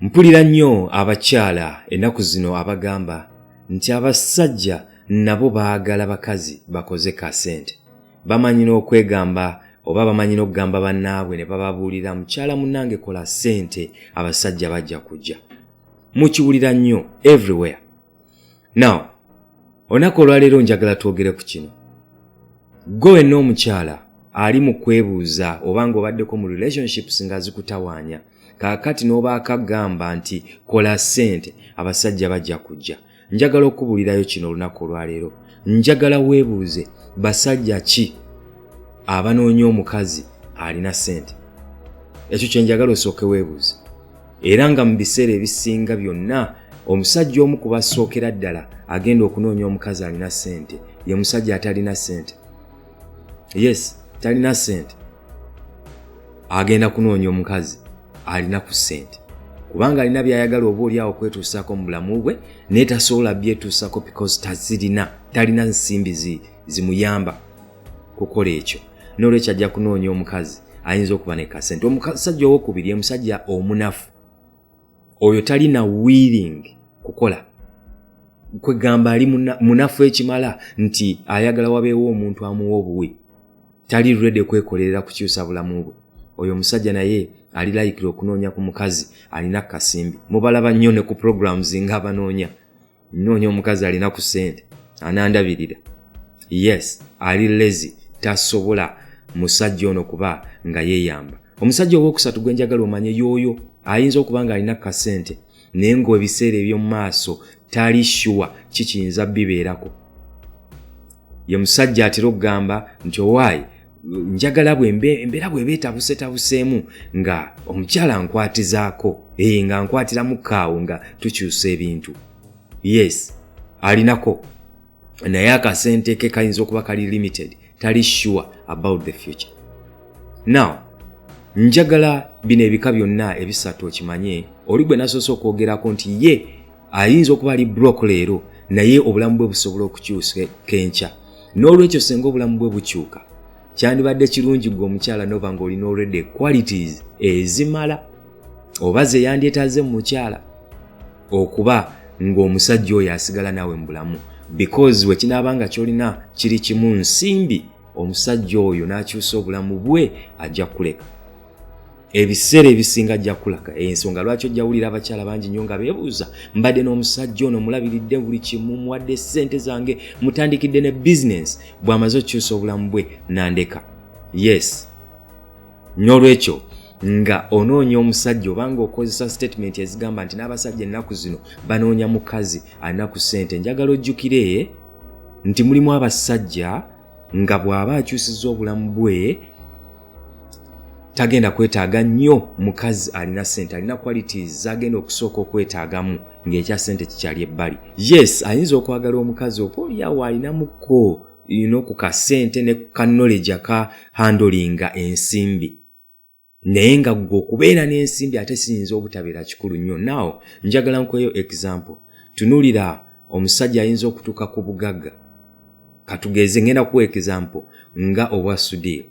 Mpulira nnyo abakyala ennaku zino abagamba nti abasajja nabo baagala bakazi bakoze ka sente. Bamanyi n'okwegamba oba bamanyi n'okugamba bannaabwe ne bababuulira mukyala munnange kola sente abasajja bajja kujja. Mukiwulira nnyo everywhere. Now, olunaku olwaleero njagala twogere ku kino. Gwe wenna omukyala ali mu kwebuuza oba ng'obaddeko mu relationships nga zikutawaanya. kaakati n'obaaka gamba nti kola ssente abasajja bajja kujja njagala okubuulirayo kino olunaku olwaleero njagala weebuuze basajja ki abanoonya omukazi alina ssente ekyo kye njagala osooke weebuuze era nga mu biseera ebisinga byonna omusajja omu ku basookera ddala agenda okunoonya omukazi alina ssente ye musajja atalina ssente yes talina sente agenda kunoonya omukazi alina ku sente kubanga alina byayagala oba oli awo kwetuusaako mu bulamu bwe naye tasobola byetuusako because tazirina talina nsimbi zimuyamba kukola ekyo nolwekyo ajja kunoonya omukazi ayinza okuba nekasente omusajja owokubiri omusajja omunafu oyo talina willing kukola kwegamba ali munafu ekimala nti ayagala wabeewo omuntu amuwa obuwi tali rede kwekolerera kukyusa bulamu bwe oyo omusajja naye ali layikira okunoonya ku mukazi alina kasimbi mubalaba nnyo ne ku programs ng'abanoonya nnoonya omukazi alina ku ssente anandabirira yes ali lezi tasobola musajja ono kuba nga yeeyamba omusajja owookusatu gwe njagala omanye yooyo ayinza okuba nga alina kasente naye ng'ebiseera eby'omu maaso tali shuwa kikiyinza bibeerako ye musajja atera okugamba nti owaayi njagala embeera bweba etabusetabuseemu nga omukyala nkwatizaako ee eh, nga nkwatiramu kaawo nga tukyusa ebintu yes alinako naye akasente ke kayinza okuba kali limited tali sure about the future now njagala bino ebika byonna ebisatu okimanye oli gwe nasoose okwogerako nti ye ayinza okuba ali brok leero naye obulamu bwe busobola okukyusa kenkya n'olwekyo senga obulamu bwe bukyuka kyandibadde kirungi gwe omukyala noba nga olina olwedde qualities ezimala oba ze yandyetaze mu mukyala okuba ng'omusajja oyo asigala naawe mu bulamu because wekinaaba nga kyolina kiri kimu nsimbi omusajja oyo n'akyusa obulamu bwe ajja kuleka ebiseera ebisinga ajja kulaga ensonga eh, lwaki ojja wulira abakyala bangi nnyo nga beebuuza mbadde n'omusajja ono mulabiridde buli kimu muwadde ssente zange mutandikidde ne bizinensi bw'amaze okukyusa obulamu bwe nandeka yes n'olwekyo nga onoonya omusajja obanga okozesa sitatimenti ezigamba nti n'abasajja ennaku zino banoonya mukazi alina ku ssente njagala ojjukire nti mulimu abasajja nga bw'aba akyusiza obulamu bwe tagenda kwetaaga nnyo mukazi alina sente alina qualities zagenda okusooka okwetaagamu ng'ekya sente kikyali ebbali yes ayinza okwagala omukazi oba olyawo alinamuko ino ku kasente ne ku kanoleja ka handolinga ensimbi naye nga gwe okubeera n'ensimbi ate siyinza obutabeera kikulu nnyo naw njagala nkweyo example tunulira omusajja ayinza okutuuka ku bugagga katugeeze ngenda kuwa example nga obwa sudiir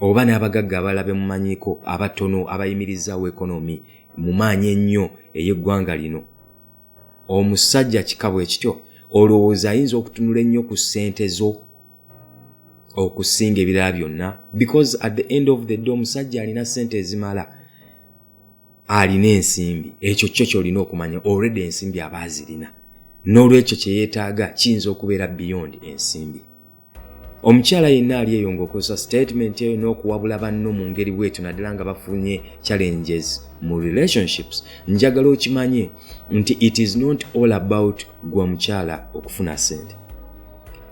oba n'abagagga abalabe mumanyiko abatono abayimirizaawo ekonomi mu maanyi ennyo ey'eggwanga lino omusajja kikabwe ekityo olowooza ayinza okutunula ennyo ku ssente zo okusinga ebirala byonna because at the end of the day omusajja alina sente ezimala alina ensimbi ekyo kyo kyolina okumanya already ensimbi aba azirina n'olwekyo kye yeetaaga kiyinza okubeera beyond ensimbi omukyala yenna ali eyo ng'okozesa statement eyo n'okuwabula banno mu ngeri bwetyo naddala nga bafunye challenges mu relationships njagala okimanye nti it is not all about gwa mukyala okufuna sente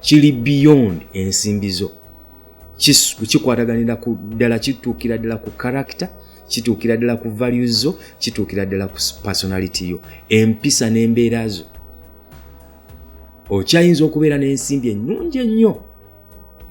kiri beyond ensimbi zo kikwataganira ku ddala kituukira ddala ku character kituukira ddala ku value zo kituukira ddala ku personality yo empisa n'embeera zo okyayinza okubeera n'ensimbi ennungi ennyo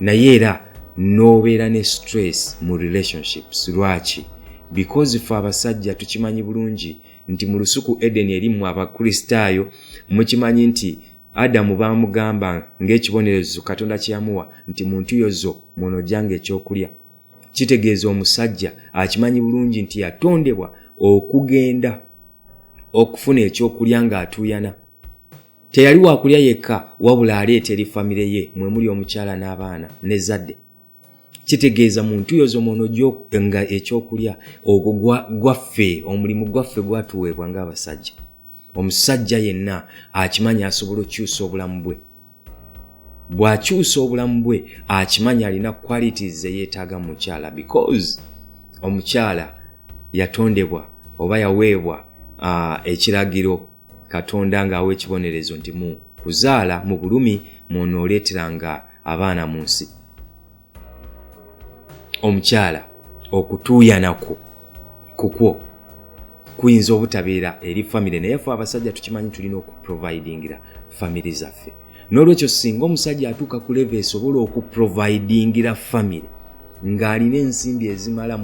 naye era n'obeera ne stress mu relationships lwaki because fe abasajja tukimanyi bulungi nti mu lusuku edeni erimu abakristaayo mukimanyi nti adamu baamugamba ng'ekibonerezo katonda kye yamuwa nti mu ntuyo zo muno ojjanga ekyokulya kitegeeza omusajja akimanyi bulungi nti yatondebwa okugenda okufuna ekyokulya ng'atuuyana teyali wakulya yekka wabula aleeta eri famire ye mwe muli omukyala n'abaana n'ezzadde kitegeeza mu ntuyo zo muno nga ekyokulya ogwo gwaffe omulimu gwaffe gwatuweebwa ng'abasajja omusajja yenna akimanyi asobola okyusa obulamu bwe bw'akyusa obulamu bwe akimanyi alina qualities zeyeetaaga mu mukyala because omukyala yatondebwa oba yaweebwa uh, ekiragiro katonda ng'awa ekibonerezo nti mu kuzaala mu bulumi mwonooleeteranga abaana mu nsi omukyala okutuuyana kwo kukwo kuyinza obutabeera eri famire naye fe abasajja tukimanyi tulina okuprovidingira famire zaffe n'olwekyo singa omusajja atuuka ku leve esobola okuprovidingira famire ng'alina ensimbi ezimala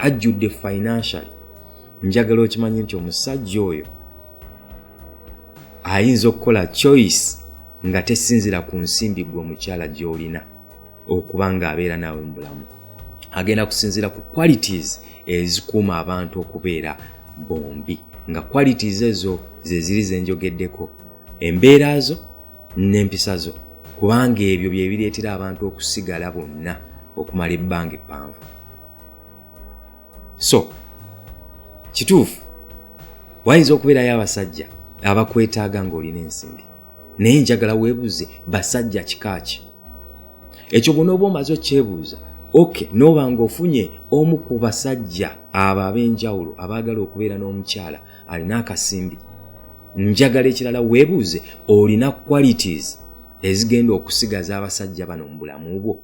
ajjudde financially njagala okimanye nti omusajja oyo ayinza okukola choice nga tesinzira ku nsimbi gwe omukyala gy'olina okuba nga abeera naawe mu bulamu agenda kusinziira ku qualities ezikuuma abantu okubeera bombi nga qualities ezo zeziri zenjogeddeko embeera zo n'empisa zo kubanga ebyo bye bireetera abantu okusigala bonna okumala ebbanga eppanvu so kituufu wayinza okubeerayo abasajja abakwetaaga ng'olina ensimbi naye njagala weebuuze basajja kika ki ekyo gona oba omaze okyebuuza ok noba ngaofunye omu ku basajja abo ab'enjawulo abaagala okubeera n'omukyala alina akasimbi njagala ekirala weebuuze olina qualities ezigenda okusigaza abasajja bano mu bulamu bwo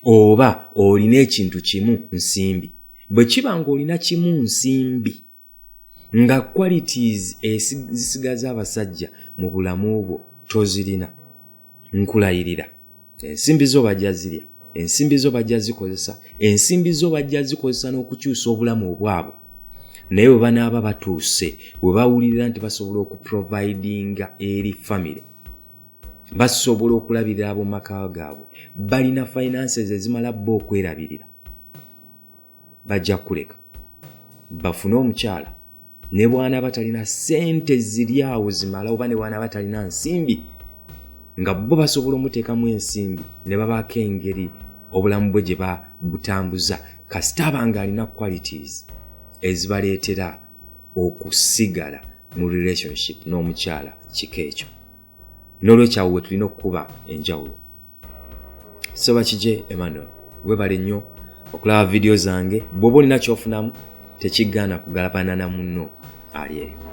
oba olina ekintu kimu nsimbi bwe kiba ng'olina kimu nsimbi nga qualities ezisigaza abasajja mu bulamu bwo tozirina nkulayirira ensimbi zo bajja zirya ensimbi zo bajja zikozesa ensimbi zo bajja zikozesa n'okukyusa obulamu obwabwe naye bwe banaaba batuuse bwe bawulirira nti basobola okuprovidinga eri famiry basobola okulabirira ab'omu maka gaabwe balina finances ezimala bo okwerabirira bajja kukuleka bafune omukyala ne bwana batalina sente ziri awo zimala oba ne bwana batalina nsimbi nga bo basobola omuteekamu ensimbi ne babaako engeri obulamu bwe gye babutambuza kasita abanga alina qualities ezibaleetera okusigala mu relationship n'omukyala kika ekyo nolwekyawo wetulina okukuba enjawulo so bakije emmanuel webale nnyo okulaba vidiyo zange bwoba olina kyofunamu tekigaana kugalabana na munno ali eyo